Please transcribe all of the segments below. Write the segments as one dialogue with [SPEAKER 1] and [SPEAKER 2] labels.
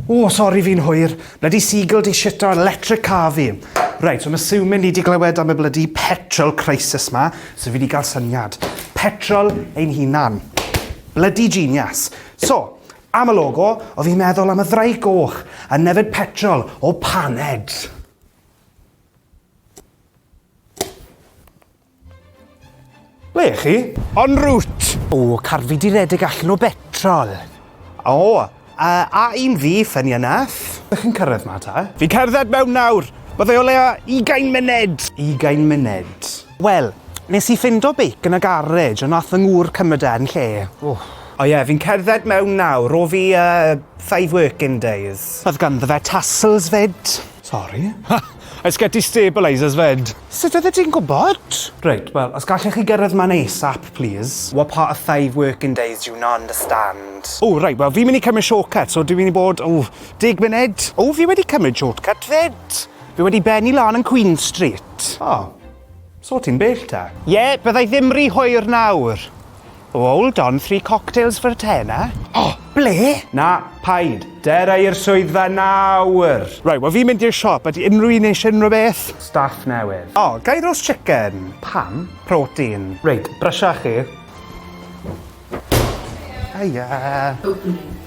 [SPEAKER 1] O, sori fi'n hwyr. Bloody seagull di shit ar electric car fi. Right, so I'm assuming ni di glywed am y bloody petrol crisis ma, so fi di gael syniad. Petrol ein hunan. Bloody genius. So, am y logo, o fi'n meddwl am y ddraig goch a nefyd petrol o paned. Ble ych chi? En route! O, car fi di redeg allan o betrol. O, uh, a un fi, funny enough. Ydych chi'n cyrraedd ma ta? Fi'n cerdded mewn nawr. Byddai o leia 20 munud. 20 munud. Wel, nes i ffindo beic yn y garej, ond nath fy ngŵr cymryd e yn lle. Oh. O ie, yeah, fi'n cerdded mewn nawr, o fi uh, five working days. Oedd ganddo fe tassels fyd. Sori? Ha! I sgeti
[SPEAKER 2] stabilisers 'fyd! Sut oeddet ti'n gwybod?
[SPEAKER 1] Reit, wel, os gallech chi gyrraedd man ASAP, plîs. What part of five working days do you not understand? Ww, reit, wel, fi'n mynd
[SPEAKER 2] i cymryd shortcut, so dwi'n mynd i bod, ww, deg munud. Ww, fi wedi cymryd
[SPEAKER 1] shortcut 'fyd! Fi wedi bennu lan yn Queen Street. O, so ti'n bell te? Ie, bydda i ddim ry hwyr nawr. Hold on, three cocktails for a tenner? O! Ble? Na, paid. Dera i'r swyddfa nawr! Right, wel fi'n mynd i'r
[SPEAKER 2] siop, ydy unrhyw un eisiau unrhyw beth? Staff newydd.
[SPEAKER 1] O, ga i roast chicken? Pam? Protein. Reit, brysio chi. Hiya. Opening.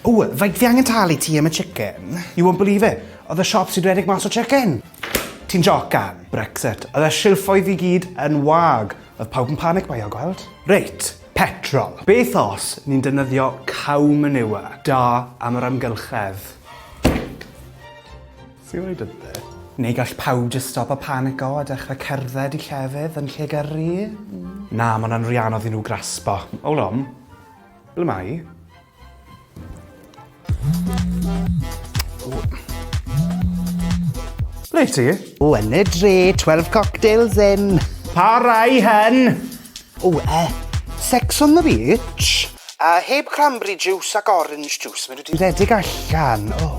[SPEAKER 1] Ww, faint fi angen talu ti am y chicken? You won't believe it. Oedd y siop sy'n redeg mas o chicken. Ti'n jocan? Brexit. Oedd y silffoedd i gyd yn wag. Oedd pawb yn panic baio, gweld? Reit, petrol. Beth os ni'n defnyddio cow manure? Da am yr amgylchedd. Ti wedi deud e. Neu gall pawb jyst stopo panico a dechre cerdded i llefydd yn lle gyrru? Na, ma' wnna'n ry anodd i nhw graspo. Hold on. Ble mae 'i? Ble wyt ti? O, yn y dre, 12 cocktails in. Pa rai hen? O, yy, sex on the beach. A heb cranberry juice ac orange juice, maen nhw 'di rhedeg allan, o.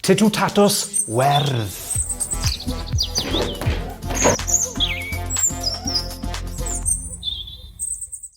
[SPEAKER 1] Titw Tatws Werdd.